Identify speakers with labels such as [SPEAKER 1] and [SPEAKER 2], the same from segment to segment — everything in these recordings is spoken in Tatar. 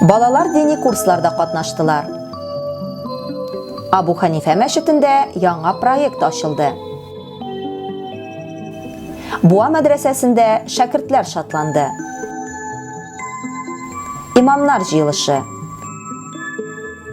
[SPEAKER 1] Балалар дини курсларда катнаштылар. Абу Ханифә мәчетендә яңа проект ачылды. Буа мәдрәсәсендә шәкертләр шатланды. Имамнар җыелышы.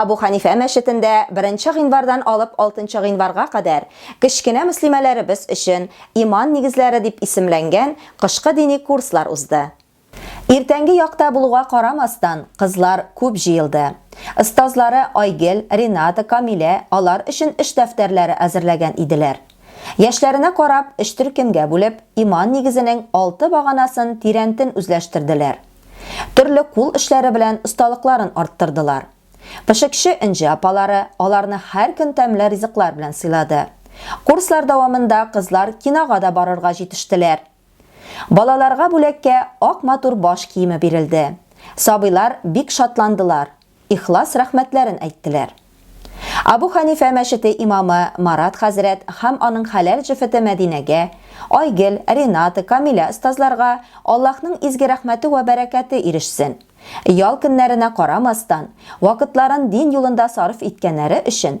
[SPEAKER 1] Абу Ханифә мәчетендә 1 гыйнвардан алып 6 гыйнварга кадәр кечкенә мөслимәләребез өчен Иман нигезләре дип исемләнгән кышкы дини курслар узды. Иртәнге якта булуга карамастан, кызлар күп җыелды. Остазлары Айгел, Рената, Камилә алар өчен эш дәфтәрләре әзерләгән иделәр. Яшьләренә карап, өч төркемгә бүлеп, Иман нигезенең алты баганасын тирәнтен үзләштерделәр. Төрле кул эшләре белән осталыкларын арттырдылар. Пешекче Энҗе апалары аларны һәр көн тәмле ризыклар белән сыйлады. Курслар дәвамында кызлар кинога да барырга җитештеләр. Балаларга бүләккә ак матур баш киеме бирелде. Сабыйлар бик шатландылар. ихлас рәхмәтләрен әйттеләр. Абу Хәнифә мәчете имамы Марат хәзрәт һәм аның хәләл җефете Мәдинәгә, Айгөл, Рената, Камилә остазларга Аллаһның изге рәхмәте вә бәрәкәте ирешсен! Ял көннәренә карамастан, вакытларын дин юлында сарыф иткәннәре өчен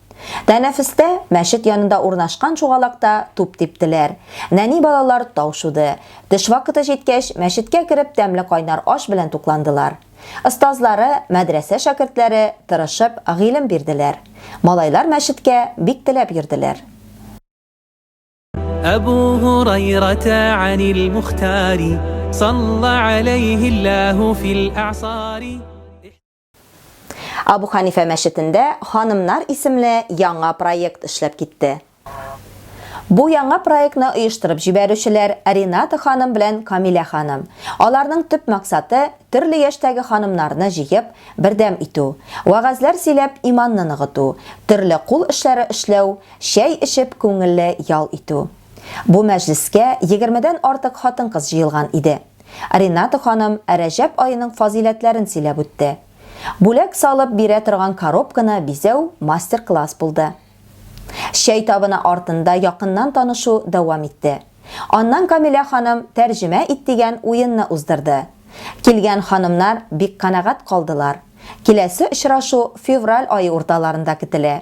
[SPEAKER 1] Тәнәфестә мәчет янында урнашкан чугалакта туп типтеләр. Нәни балалар тау шуды. Төш вакыты җиткәч, мәчеткә кереп тәмле кайнар аш белән тукландылар. Остазлары, мәдрәсә шәкертләре тырышып гыйлем бирделәр. Малайлар мәчеткә бик теләп йөрделәр. Әбу Һурайрата анил Мухтари, салла алейһи Аллаһу фил аъсари. Абу Ханифә мәчетендә ханымнар исемле яңа проект эшләп китте. Бу яңа проектны оештырып җибәрүчеләр Рената ханым белән Камилә ханым. Аларның төп максаты, төрле яшьтәге ханымнарны җыеп, бердәм итү, вәгазьләр сөйләп иманны ныгыту, төрле кул эшләре эшләү, чәй эчеп күңелле ял итү. Бу мәҗлескә егермедән артык хатын-кыз җыелган иде. Рената ханым Рәҗәб аеның фазыйләтләрен сөйләп үтте. Бүләк салып бирә торган коробканы бизәү мастер-класс булды. Чәй табыны артында якыннан танышу дәвам итте. Аннан Камилә ханым Тәрҗемә ит дигән уенны уздырды. Килгән ханымнар бик канәгать калдылар. Киләсе очрашу февраль ае урталарында көтелә.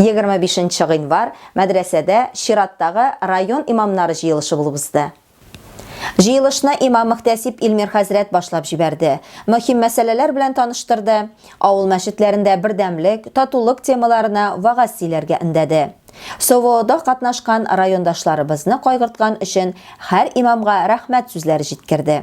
[SPEAKER 1] Егерме бишенче гыйнвар мәдрәсәдә чираттагы район имамнары җыелышы булып узды. Җыелышны имам-мөхтәсиб Илмир хәзрәт башлап җибәрде, мөһим мәсьәләләр белән таныштырды, авыл мәчетләрендә бердәмлек, татулык темаларына вәгазь сөйләргә өндәде. СОВОда катнашкан райондашларыбызны кайгырткан өчен һәр имамга рәхмәт сүзләре җиткерде.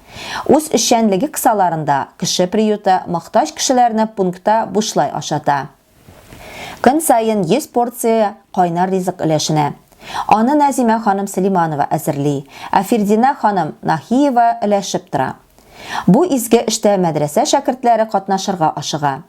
[SPEAKER 1] Үз эшчәнлеге кысаларында Кеше приюты мохтаҗ кешеләрне пунктта бушлай ашата. Көн саен 100 порция кайнар ризык өләшенә. Аны Нәзимә ханым Сөлиманова әзерли, ә Фирдинә ханым Наһиева өләшеп тора. Бу изге эштә мәдрәсә шәкертләре катнашырга ашыга.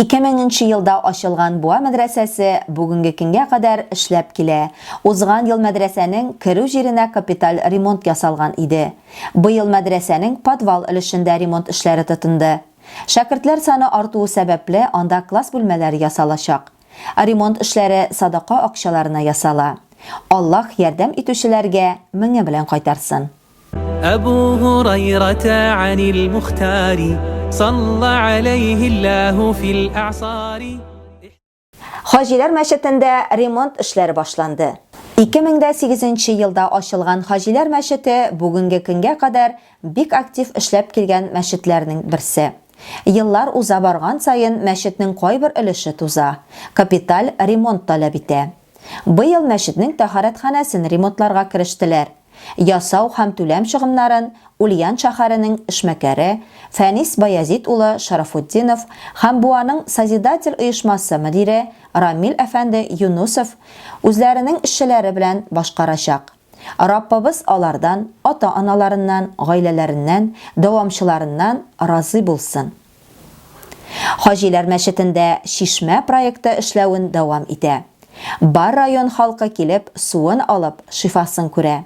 [SPEAKER 1] Ике меңенче елда ачылган Буа мәдрәсәсе бүгенге көнгә кадәр эшләп килә. Узган ел мәдрәсәнең керү җиренә капиталь ремонт ясалган иде. Быел мәдрәсәнең подвал өлешендә ремонт эшләре тотынды. Шәкертләр саны артуы сәбәпле, анда класс бүлмәләре ясалачак. Ремонт эшләре садака акчаларына ясала. Аллаһ ярдәм итүчеләргә меңе белән кайтарсын. Әбу Гурайрата анил Мухтари, салла алейхи Аллаху фил а'сари. Хаҗилар мәчетендә ремонт эшләре башланды. 2008 нче елда ачылган Хаҗилар мәчете бүгенге көнгә кадәр бик актив эшләп килгән мәчетләрнең берсе. Еллар уза барган саен мәчетнең кайбер өлеше туза, капиталь ремонт таләп итә. Быел мәчетнең тәһарәтханәсен ремонтларга керештеләр. Ясау һәм түләм чыгымнарын Ульян шәһәренең эшмәкәре Фәнис Баязит улы Шарафутдинов һәм Буаның Созидатель оешмасы мөдире Рамил әфәнде Юнусов үзләренең эшчеләре белән башкарачак. Раббыбыз алардан, ата-аналарыннан, гаиләләреннән, дәвамчыларыннан разый булсын! Хаҗиләр мәчетендә чишмә проекты эшләвен дәвам итә. Бар район халкы килеп суын алып, шифасын күрә.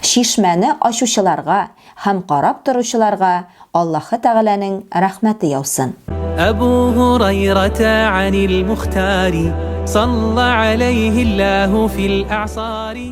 [SPEAKER 1] Чишмәне ачучыларга һәм карап торучыларга Аллаһы Тәгаләнең рәхмәте яусын. Әбу Һурайрата әнил Мухтари, салла аләйһи Аллаһу фил әгъсари.